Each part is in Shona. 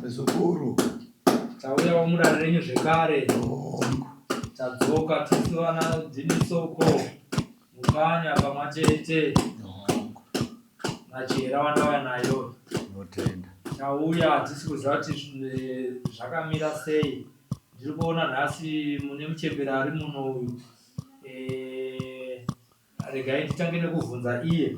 sekuru tauya wamurara renyu zvekare tadzoka tese vana dzimisoko mukanya pamwe chete machera wandauya nayo tauya hatisi kuziva kuti eh, zvakamira sei ndiri kuona nhasi mune muchembera ari muno uyu eh, regai titange nekuvhunza iye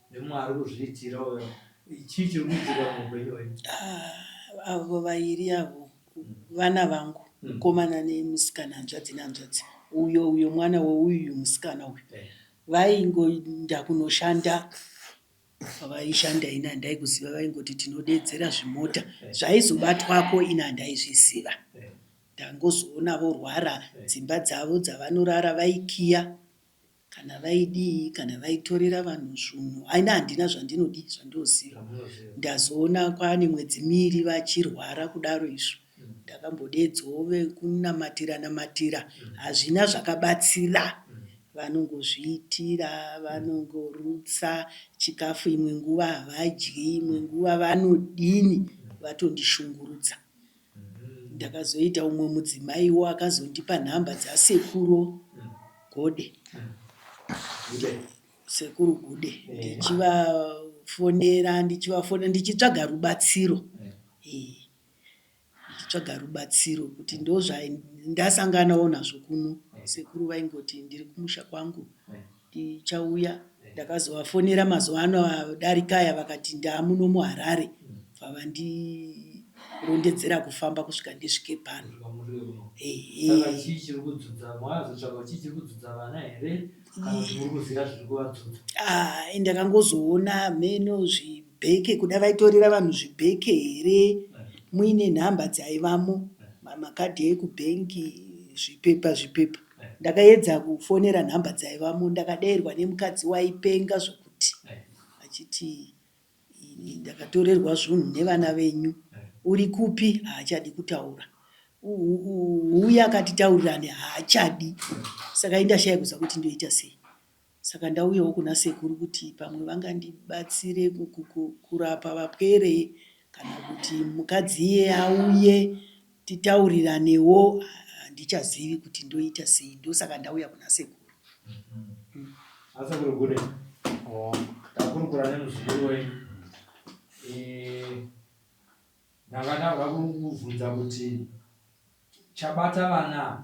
nemwari kuzviitira uyo chii chiri kuitika muupenyu hwenyu Ah, avo vairi avo vana vangu Mm. mukomana nemusikana hanzvadzi nehanzvadzi uyo uyo mwana weuyu musikana uyu Eh. vaingoinda kunoshanda pavaishanda ini handai kuziva vaingoti tinodeedzera zvimota Eh. zvaizobatwako ini handaizviziva Eh. ndangozoona vorwara Eh. dzimba dzavo dzavanorara vaikiya Kana vaidii kana vaitorera vanhu zvunhu ini handina zvandinodii zvandinoziva ndazoona kwaane mwedzi miiri vachirwara kudaro izvo ndakambodeedzwawo vekunamatira namatira hazvina zvakabatsira vanongozviitira vanongorutsa chikafu imwe nguva havadyi imwe nguva vanodini vatondishungurudza Ndakazoita umwe mudzimaiwo akazondipa nhamba dzasekuru Gode, sekuru Gude ndichivafonera ndichivafonera ndichitsvaga rubatsiro eh ndichitsvaga rubatsiro kuti ndozvandasanganawo nazvo kuno sekuru vaingoti ndiri kumusha kwangu Tichauya ndakazovafonera mazuva ano adarika aya vakati ndaamuno muHarare bva vandirondedzera kufamba kusvika ndisvike pano. Kusvika muri uno. Ehe. Saka chii chiri kudzudza, mwazotsvagawo chii chiri kudzudza vana here kana kuti muri kuziva zviri kuvadzudza? Haa ndakangozoona hameno zvibheke kuda vaitorera vanhu zvibheke here muine nhamba dzaivamo, mamakadhi ekubhengi, zvipepa zvipepa. Ndakaedza kufonera nhamba dzaivamo ndakadairwa nemukadzi waipenga zvokuti achiti ini ndakatorerwa zvunhu nevana venyu uri kupi haachadi kutaura uumm uya akati taurirane haachadi saka indashaya kuziva kuti ndoita sei. Saka ndauyawo kuna sekuru kuti pamwe vangandibatsire kurapa vapwere kana kuti mukadzi iye auye titauriranewo handichazivi kuti ndoita sei ndosaka ndauya kuna sekuru. Asekuru Gune ndakurukura nemuzukuru wenyu ndanga ndava kuvhunza kuti chabata vana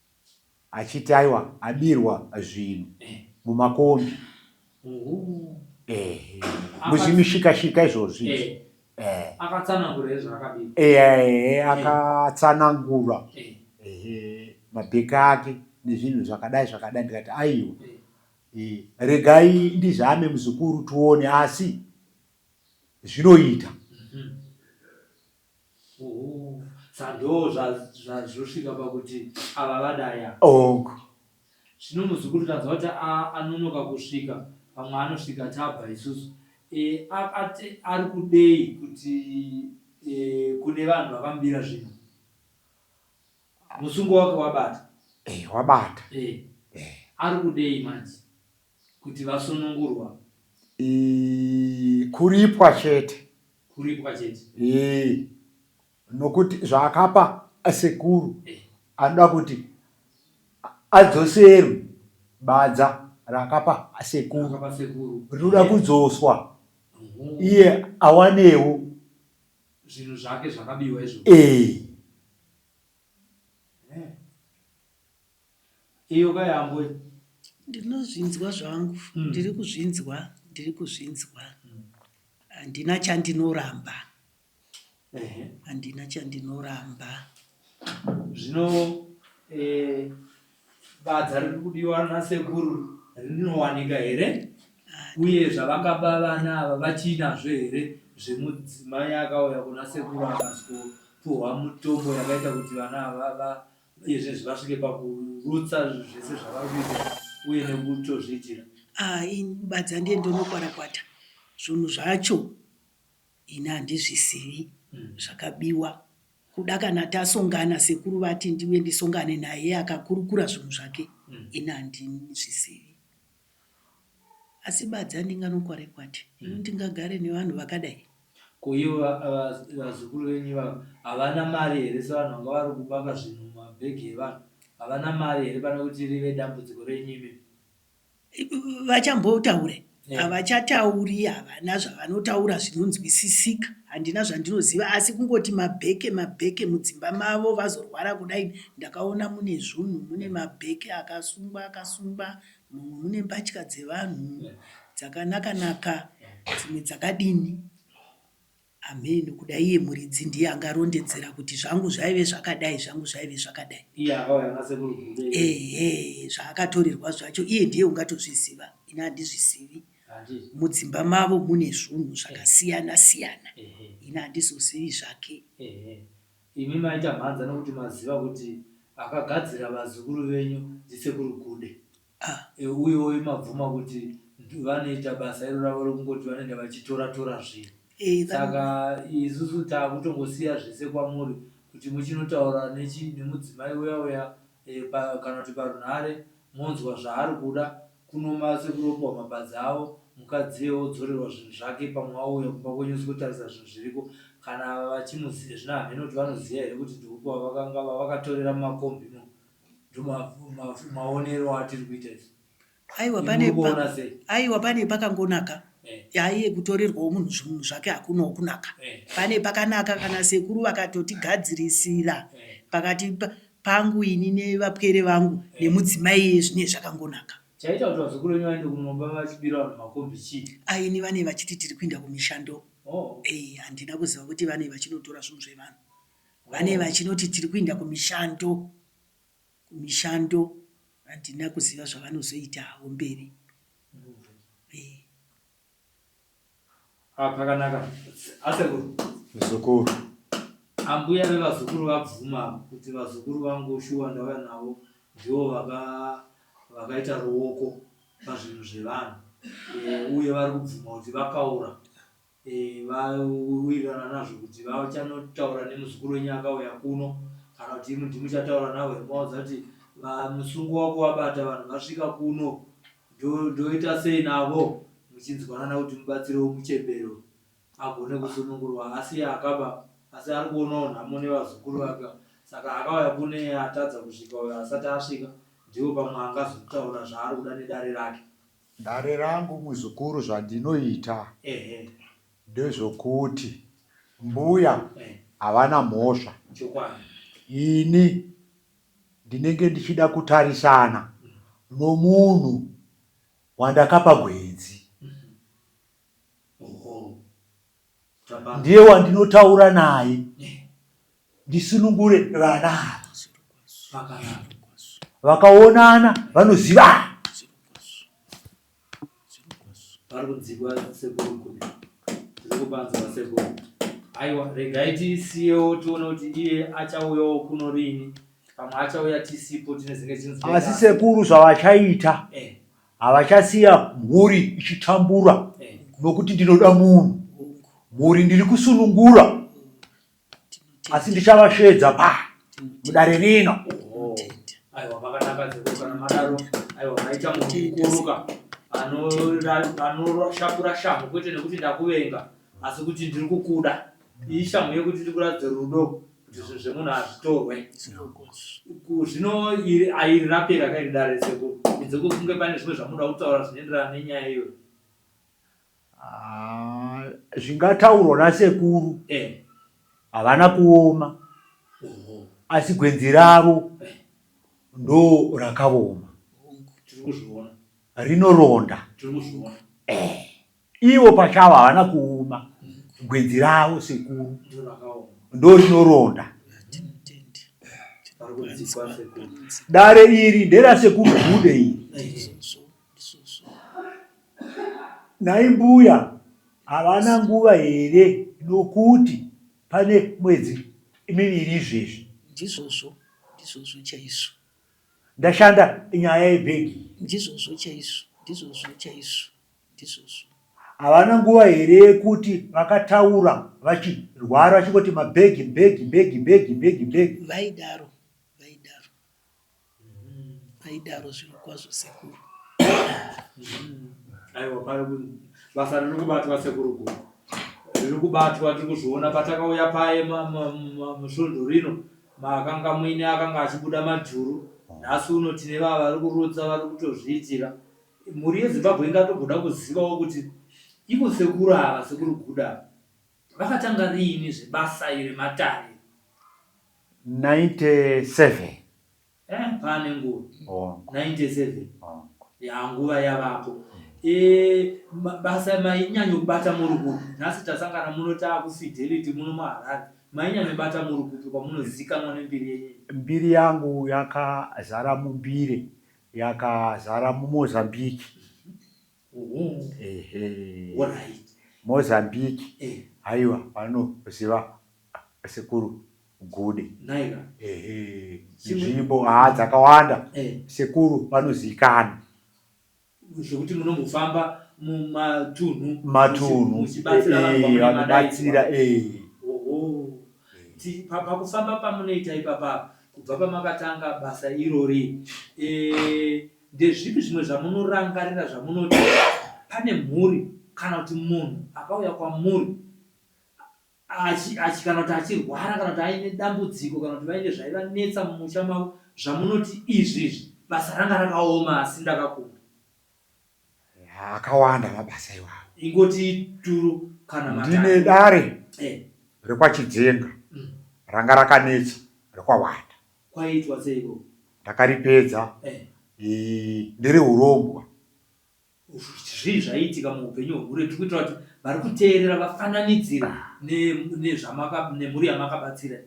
achiti aiwa abirwa zvinhu mumakombi ehe muzvimishika shika izvozvi izvi ehe akatsanangura here zvaakabirwa ehe akatsanangura ehe mabheki ake nezvinhu zvakadai zvakadai ndikati aiwa Eh, regai ndizame muzukuru tione asi zvinoita Mhm. Uum sandoo zvazvosvika pakuti ava vadaya. Onk. Zvino muzukuru tanzwa kuti anonoka kusvika pamwe anosvika tabva isusu eeh ari kudei kuti eeh kune vanhu vakamubira zvino musungo wake wabata. Eeh wabata. Eeh ari kudei manje. Kuti vasunungurwa. Ii, kuripwa chete. Kuripwa chete. Ii, nokuti zvaakapa asekuru eh. anoda kuti adzoserwe badza raakapa asekuru rinoda eh. kudzoswa iye awanewo zvinhu zvake zvakabiwa izvo eh. Iyo ka yambo iyi. Ndinozvinzwa zvangu mm. ndiri kuzvinzwa ndiri kuzvinzwa handina chandinoramba handina chandinoramba zvino eh, badza riri kudiwa nasekuru rinowanika here uye zvavakaba vana ava vachiinazvo here zvemudzimai akauya kuna sekuru akazopuhwa mutombo yakaita kuti vana ava Uyezve zvakasvika pakurutsa zvese zvavari kuita uye nekutozviitira. Ah ini badza ndiye ndonokwarakwata zvunhu zvacho ini handizvisivi zvakabiwa kuda kana tasongana sekuru vati ndiuye ndisongane naye akakurukura zvunhu zvake ini handizvisivi. Asi badza ndinganokore kwati ini ndingagare nevanhu vakadai. Ko ivo vazukuru venyu ivavo havana mari here sevanhu vanga vari kubaka zvinhu mumabhegi evanhu havana mari here pane kuti rive dambudziko renyu imi. Vachambotaure havachatauri havana zvavanotaura zvinonzwisisika handina zvandinoziva asi kungoti mabheke mabheke mudzimba mavo vazorwara kudai ndakaona mune zvunhu mune mabheke akasungwa akasungwa Mumu mune mbatya dzevanhu dzakanaka naka dzimwe dzakadini. Amheno kuda iye muridzi ndiye angarondedzera kuti zvangu zvaive zvakadai zvangu zvaive zvakadai. Iye akauya nasekuru Gudo iye. Ehe zvaakatorerwa zvacho iye ndiye ungatozviziva ini handizvizivi. Handiti. Mudzimba mavo mune zvunhu zvakasiyana siyana Ehe. ini handizozivi zvake. Ehe. Imi maita mhanza nokuti maziva kuti akagadzira vazukuru venyu ndisekuru Gude e uyoyi mabvuma kuti vanoita basa iro ravo rekungoti vanoenda vachitora tora zvinhu saka isusu takutongosiya zvese kwamuri kuti muchinotaura nemudzimai uya uya Ehe pa kana kuti parunhare monzwa zvaari kuda kuno ma sekuru opiwa mapadza avo mukadziye odzorerwa zvinhu zvake pamwe auya kumba kwenyu sikotarisa zvinhu zviriko kana ava vachimuziya zvino hameno kuti vanoziya here kuti ndeupi wavakanga vavakatorera mumakombi imo ndomaonero atiri kuita isu. Aiwa pane Muri kuona pa, sei? aiwa pane pakangonaka Eh. yaiye kutorerwawo munhu zvinhu zvake hakunawo kunaka Eh. pane pakanaka kana sekuru vakatotigadzirisira Eh. pakati pa- pangu ini nevapwere vangu nemudzimai iye zvinee zvakangonaka Chaita kuti vazukuru venyu vaende kumumba vachibira vanhu makombi chii? Ah, ini vane vachiti tiri kuinda kumishando Oh. Eh, handina kuziva kuti vane vachinotora zvinhu zvevanhu vane vachinoti tiri kuinda kumishando kumishando handina kuziva zvavanozoita havo mberi eeh. Ah pakanaka asekuru. Muzukuru. Ambuya vevazukuru vabvuma kuti vazukuru vangu shuwa ndauya navo ndivo vaka vakaita ruoko pazvinhu zvevanhu uye vari kubvuma kuti vakaura. Vawirirana nazvo kuti vachanotaura nemuzukuru wenyu akauya kuno kana kuti imwi ndimuchataura navo here movaudza kuti musungo wako wabata vanhu vasvika kuno ndoita sei navo muchinzwanana kuti mubatsirewo muchembere agone kusunungurwa asiye akaba asi ari kuonawo nhamo nevazukuru vake saka akauya kuno iye atadza kusvika uyo asati asvika ndiwo pamwe angazotaura zvaari kuda nedare rake. Dare rangu muzukuru zvandinoita ndezvokuti mbuya havana mhosva ini ndinenge ndichida kutarisana nomunhu wandakapa gwenzi ndiye wandinotaura naye ndisunungure vana ava vakaonana vanozivana vari kudzikwa sekuru kuri tiri kubanza vasekuru aiwa regai tisiyewo tione kuti iye achauyawo kuno rini pamwe achauya tisipo tine zinge chinzi asi sekuru zvavachaita eh. havachasiya mhuri ichitambura eh. nokuti ndinoda munhu mhuri ndiri kusunungura asi ndichavasvedza pa mudare rino anoshakura shamhu kwete nekuti ndakuvenga asi kuti ndiri kukuda iyi shamhu yekuti ndiri kuratidza rudo kuti zvinhu zvemunhu hazvitorwe zvino airi rapera kairi dare seko idze kufunge pane zvimwe zvamuda kutaura zvinoenderana nenyaya iyoyo Haa zvingataurwa nasekuru eh. havana kuoma oh. asi gwenzi ravo eh. ndo rakavoma rinoronda eh. ivo pachavo havana kuoma gwenzi ravo sekuru ndo rinoronda dare iri nderasekuru gude iri Nhai mbuya havana nguva here nokuti pane mwedzi miviri izvezvi. Ndizvozvo ndizvozvo chaizvo. Ndashanda nyaya yebhegi iyi. Ndizvozvo chaizvo ndizvozvo chaizvo ndizvozvo. Havana nguva here yekuti vakataura vachirwara vachingoti mabhegi bhegi bhegi bhegi bhegi bhegi. Vaidaro vaidaro. Aidaro zvirokwazvo sekuru. Aiwa pari kunzi basa riri kubatwa sekuru Guku. Riri kubatwa tiri kuzviona patakauya paye ma- ma- ma- musvondo rino makanga muine akanga achibuda majuru. Nhasi uno tine vava vari kurutsa vari kutozviitira. Mhuri yeZimbabwe ingatomboda kuzivawo kuti ivo sekuru ava sekuru Guda ava Vakatanga riini zvebasa iri matare? 97. Eh, pane nguva. Hongu. 97. Hongu. Ya nguva yavapo. Eh, ma- basa mainyanyobata muri kupi? Nhasi tasangana muno taakufidelity muno muHarare. Mainyanyobata muri kupi kwamunozikanwa nembiri yenyu? Mbiri yangu yakazara mumbiri, yakazara muMozambique. Mozambique eh. haiwa vanoziva sekuru gude nzvimbo haa dzakawanda eh. sekuru vanozikana zvekuti munombofamba mumatunhu matunhu vanobatsira eh. pakufamba pamunoita ipapa kubva pamakatanga basa irori Ndezvipi zvimwe zvamunorangarira zvamunoti pane mhuri kana kuti munhu akauya kwamuri achi, achi, kana kuti achirwara kana kuti aine dambudziko kana kuti vaine zvaivanetsa mumusha mavo zvamunoti izvi izvi basa ranga rakaoma asi ndakakunda? Ya, akawanda mabasa iwawo. Ingoti turu kana matatu. Ndine dare Eh, rekwachidzenga mm, ranga rakanetsa rekwawanda Kwaitwa seiko? Ndakaripedza Eh. ii ndiri hurombwa. Zvii zvaiitika muupenyu hwehure tiri kuitira kuti vari kuteerera vafananidzire ne, nezvamaka, nemhuri yamakabatsira.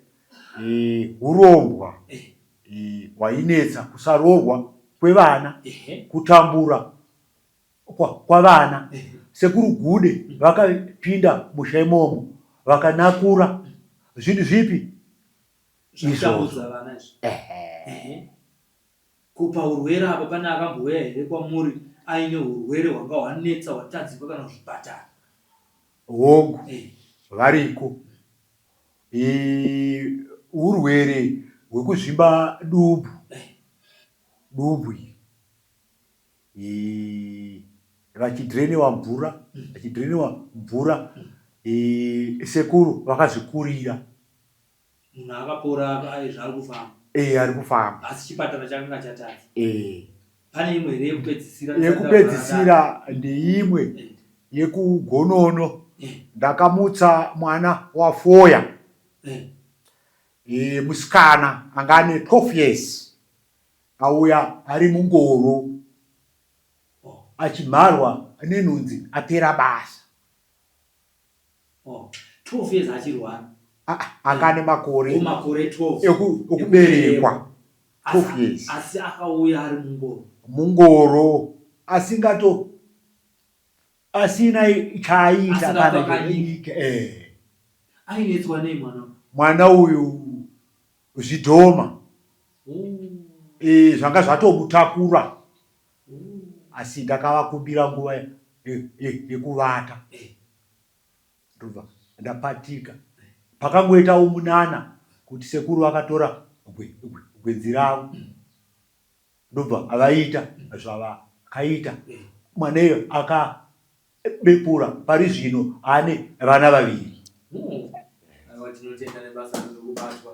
Ii hurombwa Eh. ii hwainetsa kusaroorwa kwevana, Ehe. kutambura kwa, kwavana. Ehe. Sekuru Gude vakapinda musha imomo vakanakura. Zvinhu zvipi? kupa urwere apa pane akambouya here kwamuri aine urwere hwanga hwanetsa hwatadzikwa kana kuzvipatara hongu eh. variko urwere hwekuzvimba dubu eh. dubu iri vachidrenewa mvura mm. vachidrenewa mvura mm. sekuru vakazvikurira Munhu akapora aye zvaari kufamba. Eh ari kufamba. Asi chipatara chakanga chatadza. Eh. Pane imwe here yekupedzisira? Yekupedzisira ndeimwe eh. yekugonono eh. ndakamutsa mwana wafoya eh. e, musikana anga ane 12 years auya ari mungoro oh. achimharwa nenhunzi apera basa Oh, 12 years achiri one. Ah, ah, anga ane makore. Oh, makore 12. Eku, okuberekwa. 12 years. Asi akauya ari mungoro. Mungoro. Asingato. Asina chaaita kana kunyika. Eh. Ainetswa nei mwana? Mwana uyu zvidhoma. Oh. Eh, zvanga zvatomutakura. asi ndakavakumbira nguva yekuvata ndobva ndapatika. Pakangoitawo munana kuti sekuru vakatora gwenzi ravo ndobva avaita zvavakaita mwana iyo aka Bepura pari zvino ane vana vaviri. Aiwa tinotenda nebasa riri kubatwa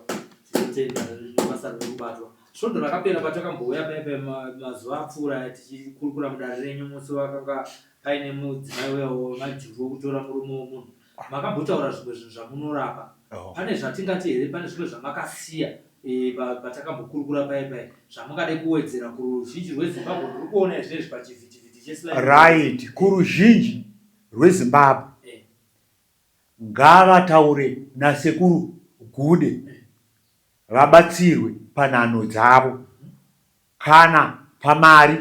tinotenda nebasa riri kubatwa svondo rakapera patakambouya paya paya ma- mazuva apfuura aya tichikurukura mudare renyu musi wakanga paine mudzimai uya wemajuru wokutora murume womunhu Makambotaura zvimwe zvinhu zvamunorapa. Oh. Pane zvatingati here pane zvimwe zvamakasiya eh, pa- patakambokurukura paye paye zvamungade kuwedzera kuruzhinji rwezimbabwe ruri kuona izvezvi pachivhitivhiti cheSly right kuruzhinji rwezimbabwe Eh, ngavataure nasekuru gude vabatsirwe panhano dzavo Kana pamari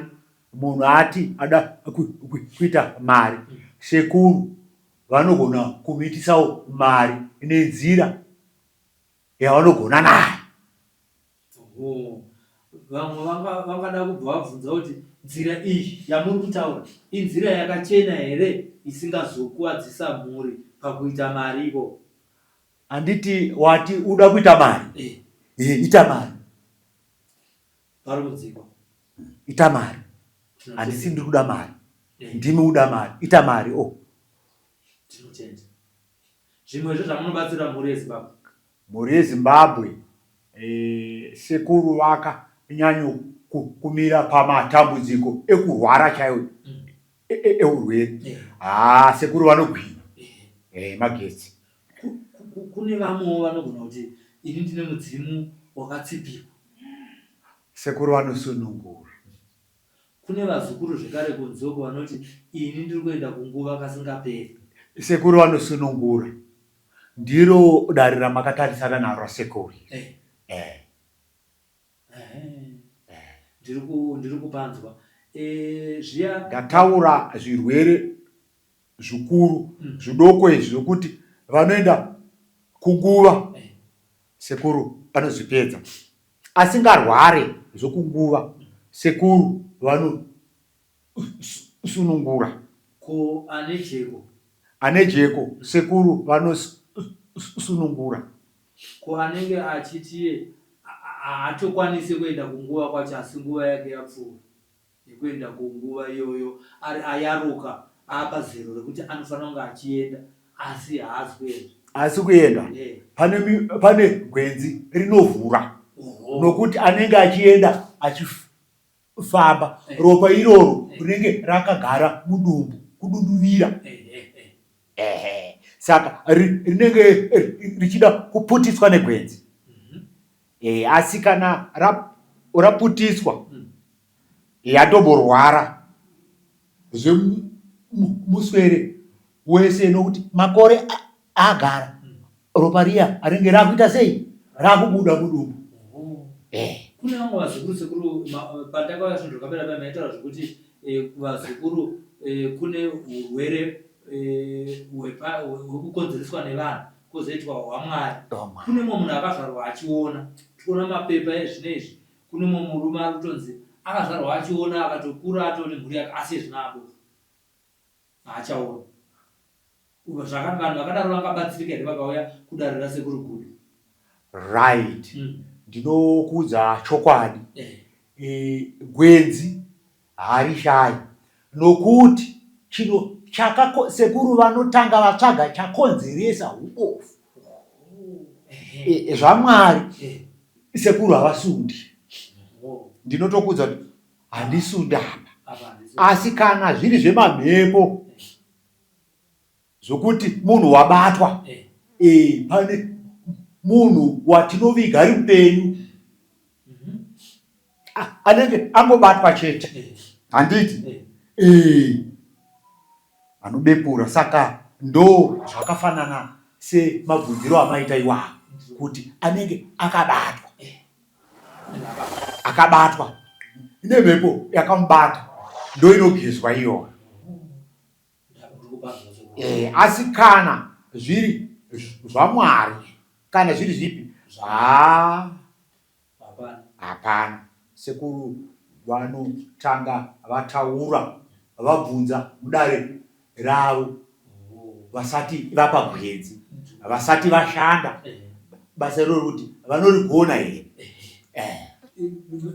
munhu ati ada kuita mari sekuru vanogona kumuitisawo mari nenzira yavanogona nayo. Vamwe vangada kubva vabvunza kuti nzira iyi yamuri kutaura inzira yakachena here isingazokuwadzisa mhuri pakuita mari ivo. Handiti wati uda kuita mari? Eh. Eh, ita mari. Parumudziko. Ita mari. Handisi ndiri kuda mari. Eh. Ndimi uda mari. Ita mari. Oh. Tinotenda. Zvimwe zvo zvamunobatsira mhuri yeZimbabwe. Mhuri yeZimbabwe eh, sekuru vaka nyanyo kumira pamatambudziko ekurwara chaiwo. Mm. eurwere haa sekuru vanogwina eh, magetsi kune vamwewo vanogona kuti ini ndine mudzimu wakatsipirwa sekuru vanosunungura kune vazukuru zvekare kunzoko vanoti ini ndiri kuenda kunguva kasingaperi sekuru vanosunungura ndiro dare ramakatarisana naro sekuru eh. Eh. Ndiri kupanzwa zviya. Ndataura zvirwere zvikuru zvidoko izvi zvokuti vanoenda kunguva sekuru vanozvipedza. Asingarware zvokunguva sekuru vano sunungura. Ko ane jeko. Ane jeko sekuru vanosunungura. Ko anenge achiti iye haatokwanise kuenda kunguva kwacho asi nguva yake yapfuura yekuenda kunguva iyoyo ari ayaruka aapazero rekuti anofanira kunge achienda asi haasi kuenda. Haasi kuenda. Pane, pane gwenzi rinovhura nokuti anenge achienda achif. kufamba ropa iroro rinenge rakagara mudumbu kududuvira ehe saka rinenge richida kuputiswa negwenzi e, asi kana raputiswa hmm. yatomborwara zvemuswere wese nokuti makore agara ropa riya ringe rakuita sei rakubuda mudumbu eh. kune vamwe vazukuru sekuru eh, pandakauya zvinhu zvakapera paya maitaura zvekuti eh, vazukuru kune urwere hwekukonzereswa nevanhu kozoitwa hwamwari kune mumwe munhu akazvarwa achiona tikuona mapepa ezvino izvi kune mumwe murume ari kutonzi akazvarwa achiona akatokura atone mhuri yake asi ezvinaabova Haachaoni. Uko zvaka vanhu vakadaro vangabatsirika here vakauya kudare rasekuru Gudo? Right. Mm. Ndinokuudza chokwadi. Eh. E, gwenzi harishayi nokuti chino chakako sekuru vanotanga vatsvaga chakonzeresa ubofu. Eh. E, zvamwari eh. sekuru havasundi. Oh. Ndinotokuudza kuti handisi undapa asi kana zviri zvemamhepo zvokuti munhu wabatwa eh. Eh, pane munhu watinoviga ari mupenyu mhm. ah, anenge angobatwa chete eh. handiti Vanobepura saka ndo zvakafanana se mabvunziro amaita iwawo kuti anenge akabatwa akabatwa ine mhepo yakamubata ndoinogezwa iyoyo e, asi kana zviri zvamwari kana zviri zvipi haa Hapana. Sekuru vanotanga vataura vabvunza mudare ravo vasati vapa gwenzi, vasati vashanda basa iroro kuti vanorigona here. Eh.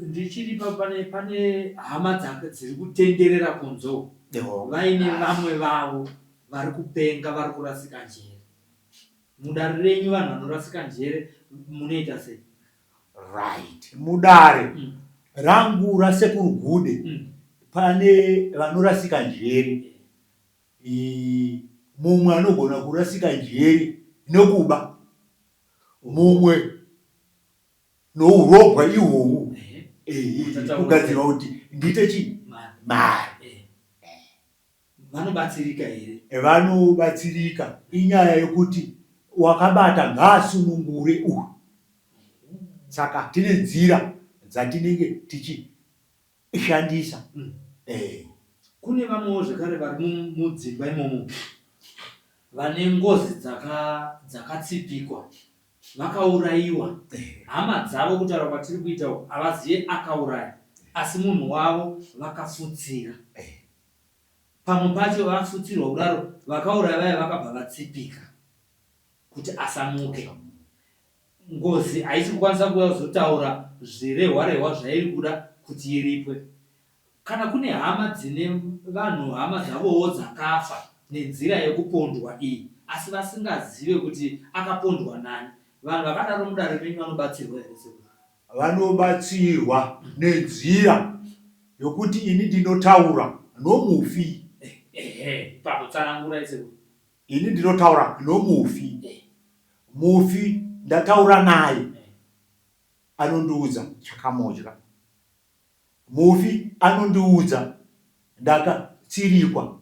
Ndichiri pa- pane pane hama dzaka dziri kutenderera kunzo Eho. vaine vamwe vavo vari kupenga vari kurasika njere. Mudare renyu vanhu vanorasika njere munoita sei? Right. Mudare mm. rangu rasekuru Gude mm. pane vanorasika njere. E, mumwe anogona kurasika njere nokuba. Mumwe nourobwa ihwohwu. Eh, eh, kugadzirwa kuti ndiite chii? Mari. Vanobatsirika here? Vanobatsirika. Inyaya yokuti wakabata ngaasunungure uyu. Saka tine nzira dzatinenge tichishandisa. Mm. Eh. Kune vamwewo zvekare vari mudzimba imomo vane ngozi dzakatsipikwa dzaka vakaurayiwa eh. hama dzavo kutaura kwatiri kuita uku havazive akauraya asi munhu wavo vakafutsira eh. Pamwe pacho vafutsirwa kudaro vakauraya vaya vakabva vatsipika kuti asamuke. Ngozi haisi kukwanisa kuuya kuzotaura zvirehwa-rehwa zvairi kuda kuti iripwe. Kana kune hama dzine vanhu hama dzavowo dzakafa nenzira yekupondwa iyi asi vasingazive kuti akapondwa nani, vanhu vakadaro mudare menyu vanobatsirwa here sekuru? Vanobatsirwa nenzira yokuti ini ndinotaura nomufi. Ehe, ipapo tsanangurai sekuru. Ini ndinotaura nomufi. Mufi ndataura naye anondiudza chakamodya. Mufi anondiudza ndaka tsirikwa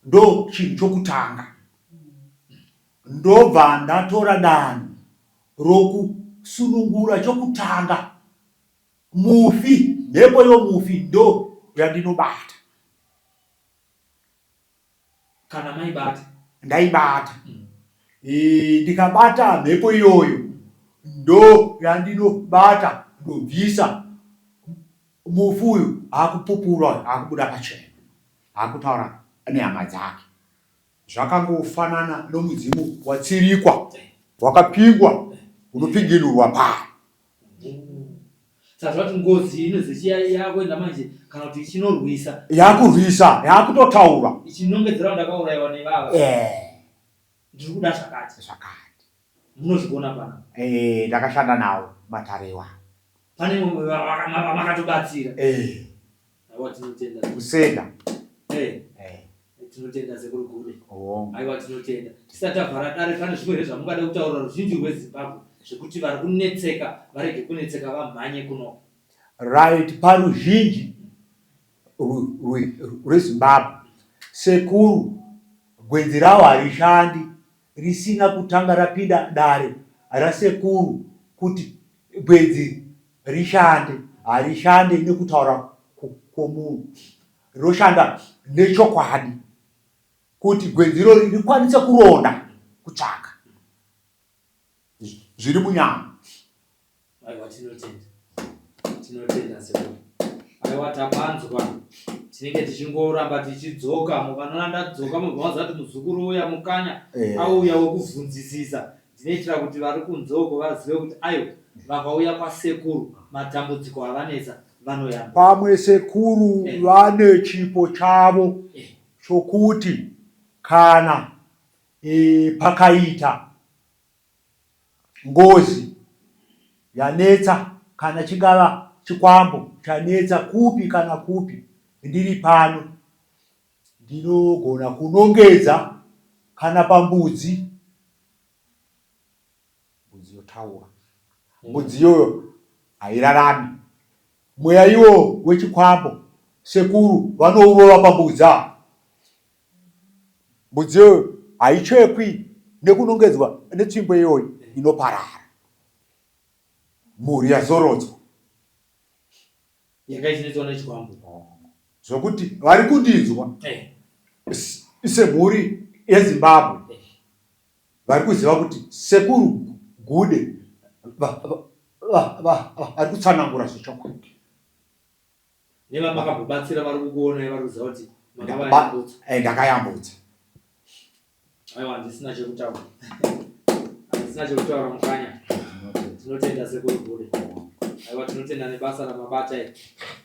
ndo chinhu chokutanga ndobva ndatora danho roku sunungura chokutanga mufi mhepo yomufi ndo yandinobata. Kana maibata. Ndaibata. Mm. E, ndikabata mhepo iyoyo ndo yandinobata ndobvisa mufu uyu akupupura akubuda pachena akutaura nehama dzake zvakangofanana nomudzimu watsirikwa wakapingwa unopinginurwa paa Saka kuti ngozi iyi inozi chiya yakuenda manje kana kuti ichinorwisa. Yakurwisa, yakutotaura. Ichinongedzera ndakaurayiwa nevava. Eh. Ndiri kuda zvakati. Zvakati. Munozvigona pana. Eh, ndakashanda nawo matare iwayo. Pane vamwe vamakatobatsira. Eh. Aiwa tinotenda. Kuseka. Eh. Eh. Tinotenda sekuru Gume. Oh. Aiwa tinotenda. Tisati avhara dare pane zvimwe here zvamungada kutaura ruzhinji rweZimbabwe zvekuti vari kunetseka varege kunetseka vamhanye kuno. Right paruzhinji rweZimbabwe sekuru gwenzi rawo harishandi risina kutanga rapinda dare rasekuru kuti gwenzi rishande harishande nekutaura kwomunhu roshanda nechokwadi kuti gwenzi irori rikwanise kuronda kutsvaka zviri munyama Aiwa tinotenda. Tinotenda sekuru. Aiwa tapanzwa. Tinenge tichingoramba tichidzoka mukanoona ndadzoka mobva maziva kuti muzukuru uya mukanya Eh. auya wokubvunzisisa. Ndinoitira kuti vari kunze uko vazive kuti aiwa vakauya kwasekuru matambudziko avanetsa vanoyambira. pamwe sekuru Eh. vane chipo chavo Eh. chokuti kana eh, pakaita Ngozi yanetsa kana chingava chikwambo chanetsa kupi kana kupi ndiri pano ndinogona kunongedza kana pambudzi mbudzi yotaura mbudzi iyoyo hairarami mweya iwo wechikwambo sekuru vanourova pambudzi ava mbudzi iyoyo haichekwi nekunongedzwa netsvimbo iyoyi inoparara mhuri yazorodzwa yakaisiritswa nechikwambo zvokuti vari kundinzwa eh. semhuri yezimbabwe eh. vari kuziva kuti sekuru gude vari kutsanangura zvechokwadi Nevamakambobatsira vari kukuonai vari kuziva kuti makavayambutsa. Eh, ndakayambutsa. Aiwa handisina chekutaura. Handisina chekutaura mukanya. Tinotenda sekuru Bhure. Aiwa tinotenda nebasa ramabata iri.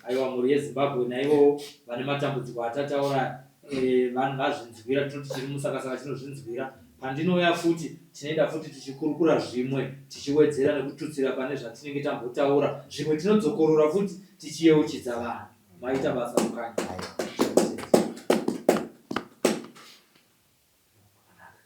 Aiwa mhuri yeZimbabwe naivowo vane matambudziko atataura aya. Eh, vanhu vazvinzwira tinoti chiri musakasaka chinozvinzwira pandinouya futi tinoenda futi tichikurukura zvimwe tichiwedzera nekututsira pane zvatinenge tambotaura zvimwe tinodzokorora futi tichiyeuchidza vanhu maita basa mukanya